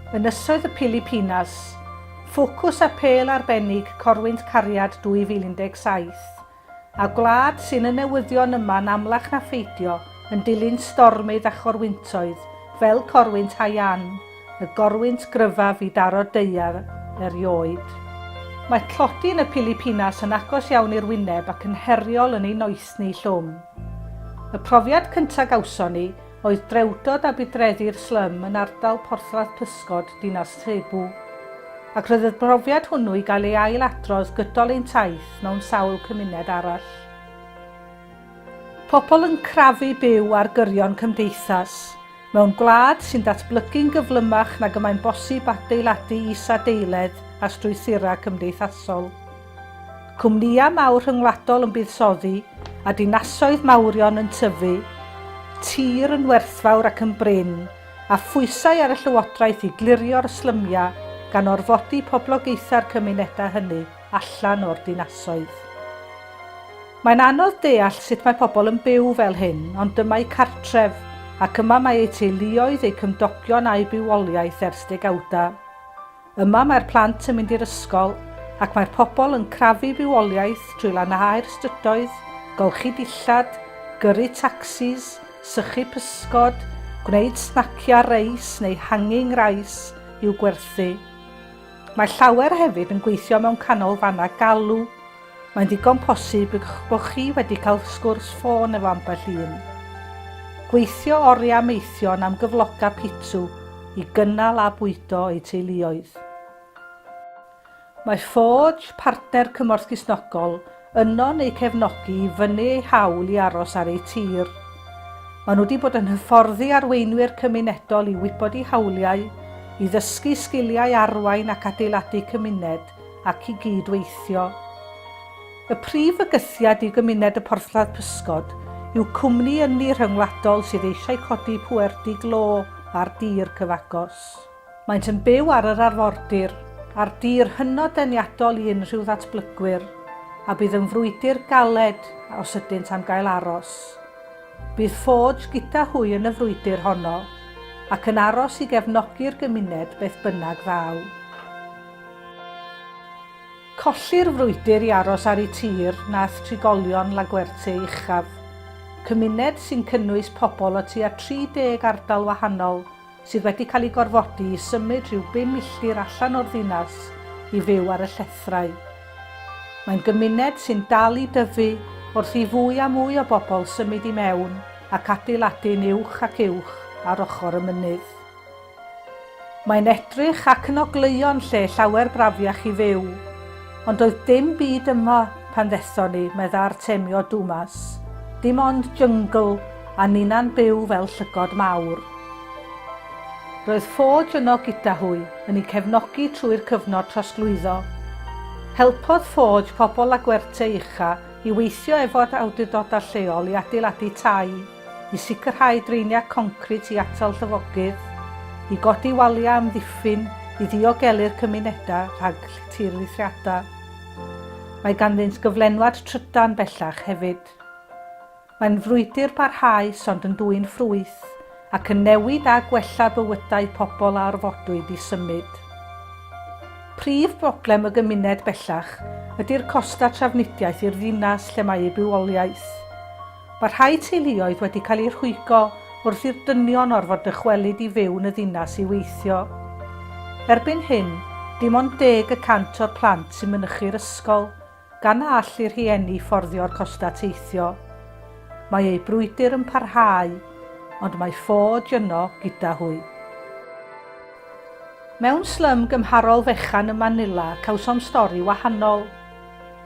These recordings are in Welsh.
Ynysoedd y Pilipinas, ffocws apêl arbennig Corwynt Cariad 2017, a gwlad sy'n y newyddion yma'n amlach na pheidio yn dilyn stormydd a chorwyntoedd fel Corwynt Haiyan, y gorwynt gryfaf i daro daear erioed. Mae tlodi yn y Pilipinas yn agos iawn i'r wyneb ac yn heriol yn ei noethni llwm. Y profiad cyntaf gawson ni oedd drewdod a budreddi'r slum yn ardal porthladd pysgod dinas Cebu, ac roedd y profiad hwnnw i gael ei ail adrodd gydol ein taith mewn sawl cymuned arall. Pobl yn crafu byw ar gyrion cymdeithas, Mewn gwlad sy'n datblygu'n gyflymach nag y mae'n bosib adeiladu isadeiledd a strwythurau cymdeithasol, cwmnïau mawr rhyngwladol yn buddsoddi a dinasoedd mawrion yn tyfu, tir yn werthfawr ac yn brin, a phwysau ar y llywodraeth i glirio'r slymiau gan orfodi poblogaethau'r cymunedau hynny. allan o'r dinasoedd. Mae'n anodd deall sut mae pobl yn byw fel hyn, ond dyma'u cartref, ac yma mae eu teuluoedd, eu cymdogion a'u bywoliaeth ers degawdau. Yma mae'r plant yn mynd i'r ysgol, ac mae'r pobl yn crafu bywoliaeth drwy lanhau'r strydoedd, golchi dillad, gyrru tacsis, sychu pysgod, gwneud snaciau reis neu hanging rice i'w gwerthu. Mae llawer hefyd yn gweithio mewn canolfannau galw. Mae'n ddigon posib eich bod chi wedi cael sgwrs ffôn efo ambell un. Gweithio oriau am eithion am gyfloga pitw i gynnal a bwydo eu teuluoedd. Mae Forge, partner cymorth Cristnogol, Yno'n eu cefnogi i fynnu eu hawl i aros ar eu tir. Maen nhw wedi bod yn hyfforddi arweinwyr cymunedol i wybod eu hawliau, i ddysgu sgiliau arwain ac adeiladu cymuned, ac i gyd-weithio. Y prif fygythiad i gymuned y Porthladd Pysgod yw cwmni ynni rhyngwladol sydd eisiau codi pwerdy glo ar dir cyfagos. Maent yn byw ar yr arfordir, ar dir hynod deniadol i unrhyw ddatblygwyr, a bydd yn frwydr galed os ydynt am gael aros. Bydd Forge gyda hwy yn y frwydr honno, ac yn aros i gefnogi'r gymuned beth bynnag ddaw. Colli'r frwydr i aros ar eu tir nath trigolion Laguerte uchaf, cymuned sy'n cynnwys pobl o tua 30 ardal wahanol sydd wedi cael eu gorfodi i symud rhyw bum milltir allan o'r ddinas i fyw ar y llethrau. Mae'n gymuned sy'n dal i dyfu wrth i fwy a mwy o bobl symud i mewn ac adeiladu'n uwch ac uwch ar ochr y mynydd. Mae'n edrych ac yn ogleuo'n lle llawer brafiach i fyw, Ond doedd dim byd yma pan ddethon ni, medda Artemio Dumas. Dim ond jyngl, a ninna'n byw fel llygod mawr. Roedd Forge yno gyda hwy, yn i cefnogi trwy'r cyfnod trosglwyddo. Helpodd Forge pobl Laguerte Ucha i weithio efo'r awdurdodau lleol i adeiladu tai. i sicrhau draeniau concrit i atal llifogydd, i godi waliau amddiffyn i ddiogelu'r cymunedau rhag tirlithriadau. Mae ganddynt gyflenwad trydan bellach hefyd. Mae'n frwydr parhaus ond yn dwyn ffrwyth ac yn newid a gwella bywydau pobl a orfodwyd i symud. Prif broblem y gymuned bellach ydy'r costau trafnidiaeth i'r ddinas lle mae ei bywoliaeth. Mae rhai teuluoedd wedi cael eu rhwygo wrth i'r dynion orfod dychwelyd i fyw yn y ddinas i weithio. Erbyn hyn, dim ond deg y cant o'r plant sy'n mynychu'r ysgol, gan na all eu rhieni fforddio'r costau teithio. Mae eu brwydr yn parhau, ond mae ffoj yno gyda hwy. Mewn slym gymharol fechan ym Manila cawsom stori wahanol.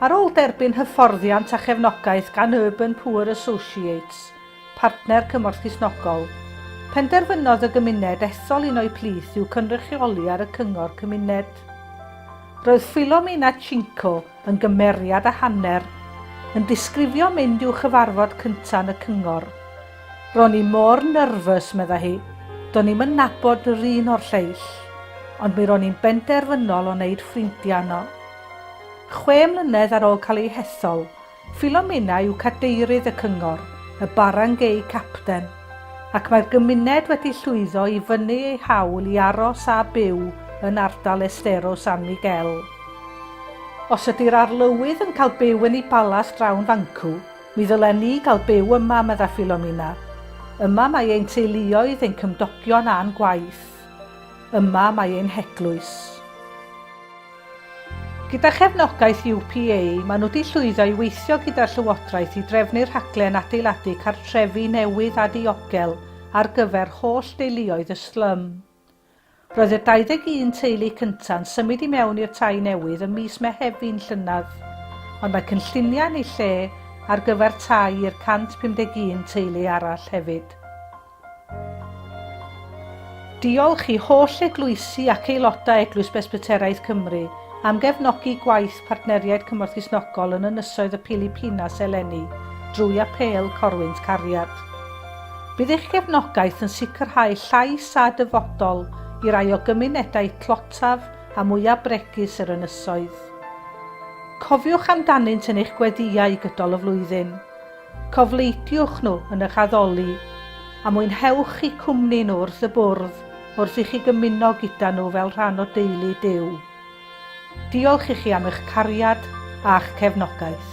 Ar ôl derbyn hyfforddiant a chefnogaeth gan Urban Poor Associates, partner Cymorth Cristnogol, penderfynodd y gymuned ethol un o'u plith i'w cynrychioli ar y Cyngor Cymuned. Roedd Filomena Cinco yn gymeriad a hanner, yn disgrifio mynd i'w chyfarfod cyntaf yn y Cyngor. Ro'n i mor nyrfys, medda hi, do'n i'm yn nabod yr un o'r lleill, ond mi ro'n i'n benderfynol o wneud ffrindiau yno. Chwe mlynedd ar ôl cael ei hethol, Philomena yw cadeirydd y cyngor, y Barangay Captain, ac mae'r gymuned wedi llwyddo i fynnu eu hawl i aros a byw yn ardal Estero San Miguel. Os ydy'r Arlywydd yn cael byw yn eu palas drawn fancw, mi ddylen ni gael byw yma, medda Philomena. Yma mae ein teuluoedd, ein cymdogion a'n gwaith. Yma mae ein heglwys. Gyda chefnogaeth UPA, maen nhw 'di llwyddo i weithio gyda'r Llywodraeth i drefnu rhaglen adeiladu cartrefi newydd a diogel ar gyfer holl deuluoedd y slum. Roedd y 21 teulu cynta'n symud i mewn i'r tai newydd ym mis Mehefin llynedd, ond mae cynlluniau yn eu lle ar gyfer tai i'r 151 teulu arall hefyd. Diolch i holl eglwysi ac aelodau Eglwys Bresbyteraidd Cymru am gefnogi gwaith Partneriaid Cymorth Cristnogol yn Ynysoedd y Pilipinas eleni drwy Apêl Corwynt Cariad. Bydd eich gefnogaeth yn sicrhau llais a dyfodol i rai o gymunedau tlotaf a mwyaf bregus yr ynysoedd. Cofiwch amdanynt yn eich gweddïau gydol y flwyddyn. Cofleidiwch nhw yn eich addoli, a mwynhewch eu cwmni nhw wrth y bwrdd wrth i chi gymuno gyda nhw fel rhan o deulu Duw. Diolch i chi am eich cariad a'ch cefnogaeth.